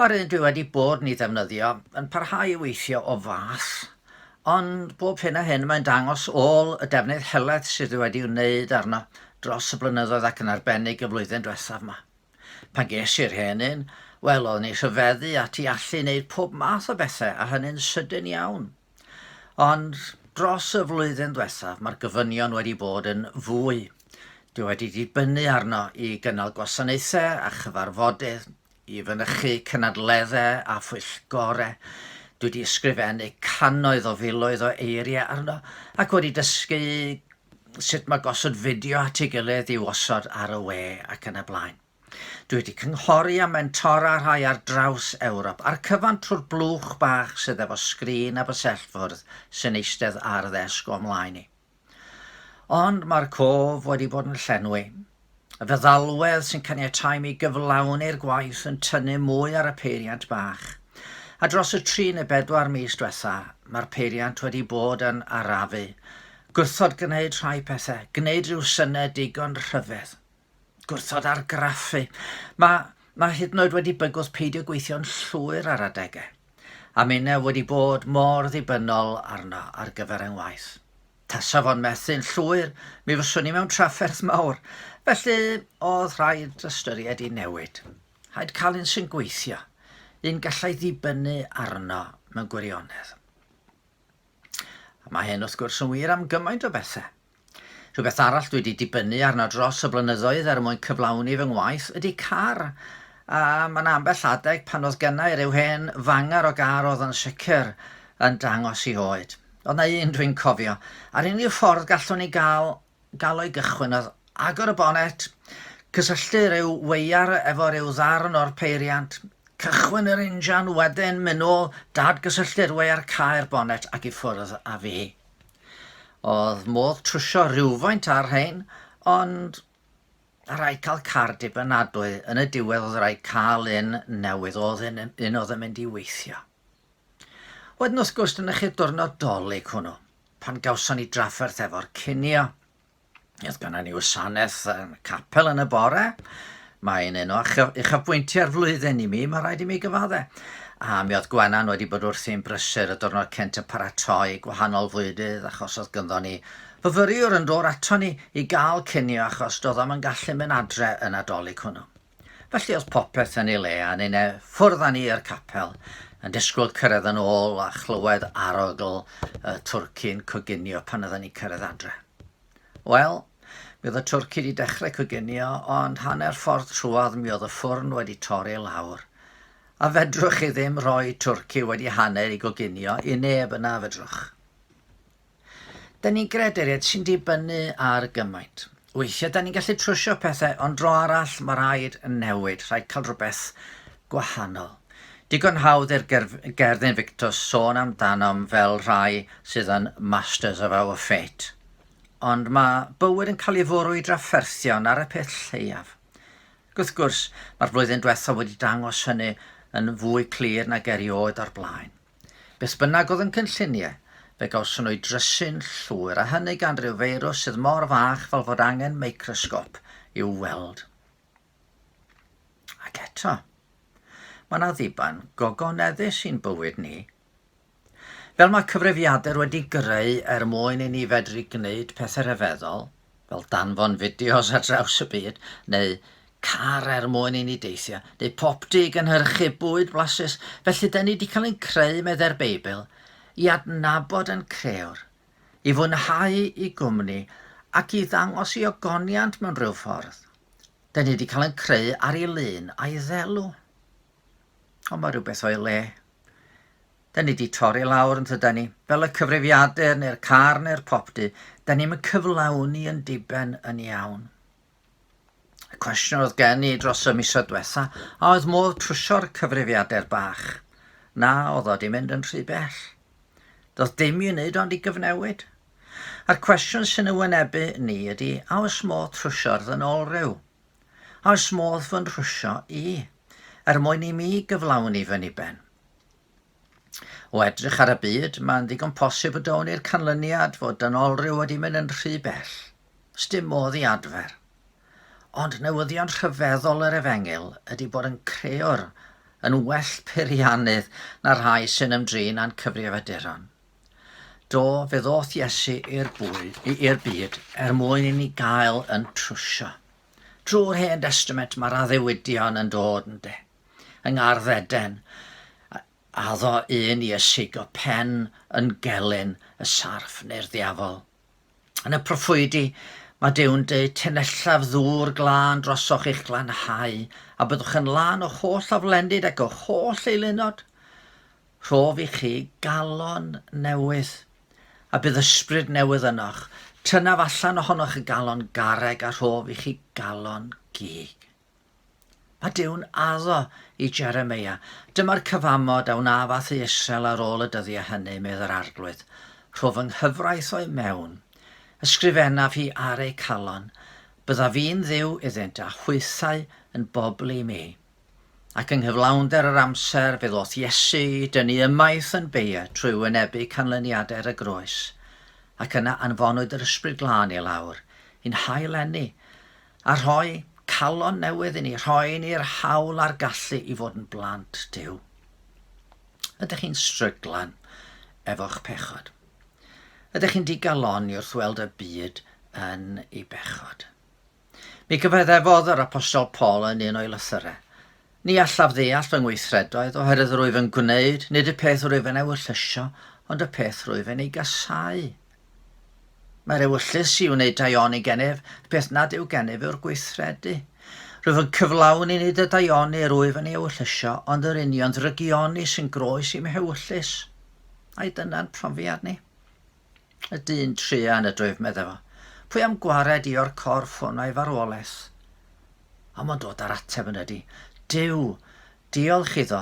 Mae'r un dwi wedi bod ni ddefnyddio yn parhau i weithio o fath, ond bob hyn a hyn mae'n dangos ôl y defnydd helaeth sydd wedi wneud arno dros y blynyddoedd ac yn arbennig y flwyddyn diwethaf ma. Pan ges i'r hen un, wel oeddwn i rhyfeddu ati allu wneud pob math o bethau a hynny'n sydyn iawn. Ond dros y flwyddyn dwethaf mae'r gofynion wedi bod yn fwy. Dwi wedi dibynnu arno i gynnal gwasanaethau a chyfarfodydd, i fynychu cynadleddau a phwyllgorau, dwi wedi ysgrifennu cannoedd o filoedd o eiriau arno ac wedi dysgu sut mae gosod fideo at ei gilydd i'w osod ar y we ac yn y blaen. Dwi wedi cynghori a mentora rhai ar draws Ewrop a'r cyfan trwy'r blwch bach sydd efo sgrin a bysellfwrdd sy'n eistedd ar ddesg o'm mlaen i. Ond mae'r cof wedi bod yn llenwi. Y feddalwedd sy'n caniatáu mi gyflawni'r gwaith yn tynnu mwy ar y peiriant bach. A dros y tri neu bedwar mis diwetha, mae'r peiriant wedi bod yn arafu. Gwrthod gwneud rhai pethau, gwneud rhyw synau digon rhyfedd. gwrthod argraffu. Mae, mae hyd yn oed wedi bygwth peidio gweithio'n llwyr ar adegau. A minnau wedi bod mor ddibynnol arno ar gyfer yng ngwaith. Tasa fo'n methu'n llwyr, mi fyswn i mewn trafferth mawr, felly oedd rhaid ystyried i newid. Rhaid cael un sy'n gweithio, un gallai ddibynnu arno mewn gwirionedd. A mae hyn wrth gwrs yn wir am gymaint o bethau. Rhywbeth arall dwi 'di dibynnu arno dros y blynyddoedd er mwyn cyflawni fy ngwaith ydi car, a ma' 'na ambell adeg pan o'dd gynna i ryw hen fangar o gar o'dd yn sicr yn dangos i oed. O'dd 'na un dwi'n cofio, a'r unig ffordd gallwn i ga'l ga'l o i gychwyn o'dd agor y bonet, cysylltu ryw weiar efo ryw ddarn o'r peiriant, cychwyn yr injan, wedyn myn' nôl, dad-gysylltu'r weiar, cau'r bonet ac i ffwrdd a fi. Oedd modd trwsio rhywfaint ar rhain, ond rhaid cael car dibynadwy. Yn y diwedd oedd rhaid cael un newydd, oedd un, un oedd yn mynd i weithio. Wedyn wrth gwrs, dyna chi'r diwrnod dolyg hwnnw, pan gawson ni drafferth efo'r cinio. Oedd gan ni wasanaeth yn capel yn y bore. Mae'n un o uchafbwyntiau'r flwyddyn i mi, mae rhaid i mi gyfaddau. A mi oedd Gwenan wedi bod wrthi'n brysur y diwrnod cent yn paratoi gwahanol fwydydd achos oedd gynddo ni fyfyriwr yn dod ato ni i gael cinio achos doedd o'm yn gallu mynd adre y Nadolig hwnnw. Felly oedd popeth yn ei le a ni'n e ffwrdd â ni i'r capel, yn disgwyl cyrraedd yn ôl a chlywed arogl y twrci'n coginio pan oedden ni'n cyrraedd adre. Wel, mi oedd y twrci wedi dechrau coginio, ond hanner ffordd trwodd mi oedd y ffwrn wedi torri lawr. A fedrwch chi ddim rhoi twrci wedi hanner i goginio i neb yna, fedrwch? Da ni'n gredu et sy'n dibynnu ar gymaint. Weithiau da ni'n gallu trwsio pethau ond dro arall mae rhaid newid, rhaid cael rhywbeth gwahanol. Digon hawdd i'r gerdd Invictus sôn amdanom fel rhai sydd yn masters of our fate. Ond mae bywyd yn cael ei fwrw i drafferthion ar y peth lleiaf. Ac wrth gwrs, mae'r flwyddyn diwethaf wedi dangos hynny yn fwy clir nag erioed o'r blaen. Beth bynnag oedd yn cynllunie, fe gawson nhw eu drysu'n llwyr, a hynny gan ryw feirws sydd mor fach fel fod angen microsgop i'w weld. Ac eto, mae yna ddiban gogoneddus i'n bywyd ni. Fel mae cyfrifiadur wedi greu er mwyn i ni fedru gwneud pethau rhyfeddol, fel danfon fideos ar draws y byd, neu car er mwyn i ni deithio, neu popty i gynhyrchu bwyd blasus, felly da ni wedi cael ein creu, meddai'r Beibl, i adnabod ein Crëwr, i fwynhau i gwmni, ac i ddangos i ogoniant mewn rhyw ffordd. Da ni wedi cael ein creu ar ei lun a'i ddelw. Ond mae rhywbeth o'i le. Da ni 'di torri lawr yntydan ni? Fel y cyfrifiadur neu'r car neu'r popty, da ni'm yn cyflawni yn diben yn iawn. Y cwestiwn oedd gen i dros y misoedd diwetha', a oedd modd trwsio'r cyfrifiadur bach? Na, oedd o 'di mynd yn rhy bell. Doedd dim i'w wneud ond i gyfnewid. A'r cwestiwn sy'n y wynebu ni ydy, a oes modd trwsio'r ddynolryw? A oes modd fy nhrwsio i? Er mwyn i mi gyflawni fy niben. O edrych ar y byd, mae'n ddigon posib y down ni'r canlyniad fod dynolryw wedi mynd yn rhy bell. Sdim modd i adfer. Ond newyddion rhyfeddol yr efengyl ydy bod yn creor yn well peiriannydd na rhai sy'n ymdrin â'n cyfrifiaduron. Do, fe ddoth Iesu i'r bwyd, i'r byd er mwyn i ni gael yn trwsio. Drwy'r Hen Destament mae'r addewidion yn dod yn de. yng ngardd Eden, a addo un i ysigo pen yn gelyn y sarff neu'r ddiafol. Yn y proffwydi, mae Dew'n deud, Tenellaf ddŵr glân drosoch i'ch glanhau, a byddwch yn lân o'ch holl aflennid ac o'ch holl eilunod. Rhof i chi galon newydd, a bydd ysbryd newydd ynoch. Tynaf allan ohonoch y galon garreg a rhof i chi galon gig. A Duw'n addo i Jeremia, Dyma'r cyfamod a wnaf â thu Israel ar ôl y dyddiau hynny, medd yr Arglwydd, Rho fy nghyfraith o'i mewn, ysgrifennaf hi ar eu calon, bydda fi'n Dduw iddynt a hwythau yn bobl i mi. Ac yng nghyflawnder yr amser fe ddoth Iesu i dynnu ymaith yn beia trwy wynebu canlyniadau ar y groes, ac yna anfonwyd yr Ysbryd Glân i lawr, i'n hail-eni, A rhoi calon newydd i ni, rhoi ni'r hawl a'r gallu i fod yn blant Duw. Ydych chi'n stryglan efo'ch pechod? Ydych chi'n digalonni wrth weld y byd yn ei bechod? Mi gyfaddefodd yr apostol Paul yn un o'i lythyrau, Ni allaf ddeall fy ngweithredoedd oherwydd yr wyf yn gwneud, nid y peth rwyf yn ewyllysio, ond y peth rwyf yn ei gasáu. Mae'r ewyllys i wneud daioni gennyf, y peth nad yw gennyf yw'r gweithredu. Rwyf yn cyflawni nid y daioni yr wyf yn ei ewyllysio, ond yr union ddrygioni sy'n groes i'm hewyllys. Ai dyna'n profiad ni? Y dyn truan y dref medde fo. Pwy am gwared i o'r corff hwn a'i farwolaeth? A mo'n dod ar ateb yn ydi. Duw, diolch iddo,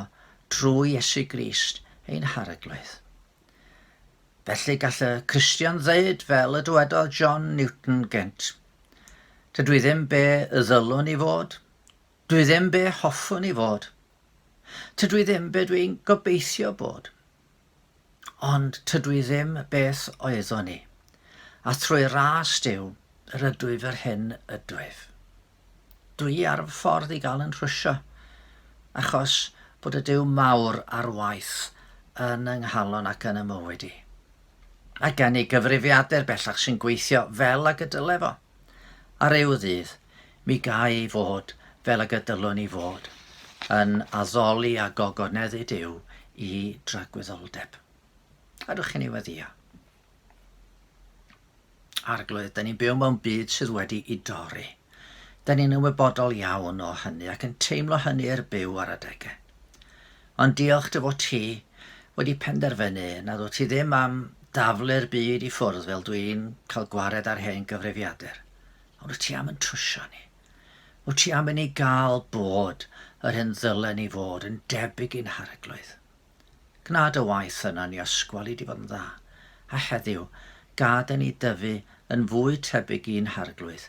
drwy Iesu Grist, ein hareglwydd. Felly gall y Cristion ddeud fel y dywedodd John Newton gynt. Dydw i ddim be y ddylwn i fod. Dwi ddim be hoffwn i fod. Tydw i ddim be dwi'n gobeithio bod. Ond tydw i ddim beth oeddwn i, a thrwy ras Duw, rydw i f'yr hyn ydwyf. Dw i ar fy ffordd i gael yn rhwysio, achos bod y Duw mawr ar waith yn yng nghalon ac yn y mywyd i. Mae gen i gyfrifiadur bellach sy'n gweithio fel ag y dyle fo. Ar ryw ddydd, mi gai fod fel ag y dylwn i fod, yn addoli a gogoneddu Duw i dragwyddoldeb. Ydych chi'n ei weddio? Arglwydd, da ni'n byw mewn byd sydd wedi i dorri. Da ni'n ymwybodol iawn o hynny ac yn teimlo hynny i'r byw ar adegau. Ond diolch dy fod ti wedi penderfynu nad wyt ti ddim am daflu'r byd i ffwrdd fel dw i'n cael gwared ar hen gyfrifiadur. Ond wyt ti am yn trwsio ni? Wyt ti am i ni gael bod yr hyn ddylen ni fod yn debyg i'n harglwydd? Gwna dy waith yna ni osgwali di fod yn dda, a heddiw gad i ni dyfu yn fwy tebyg i'n harglwydd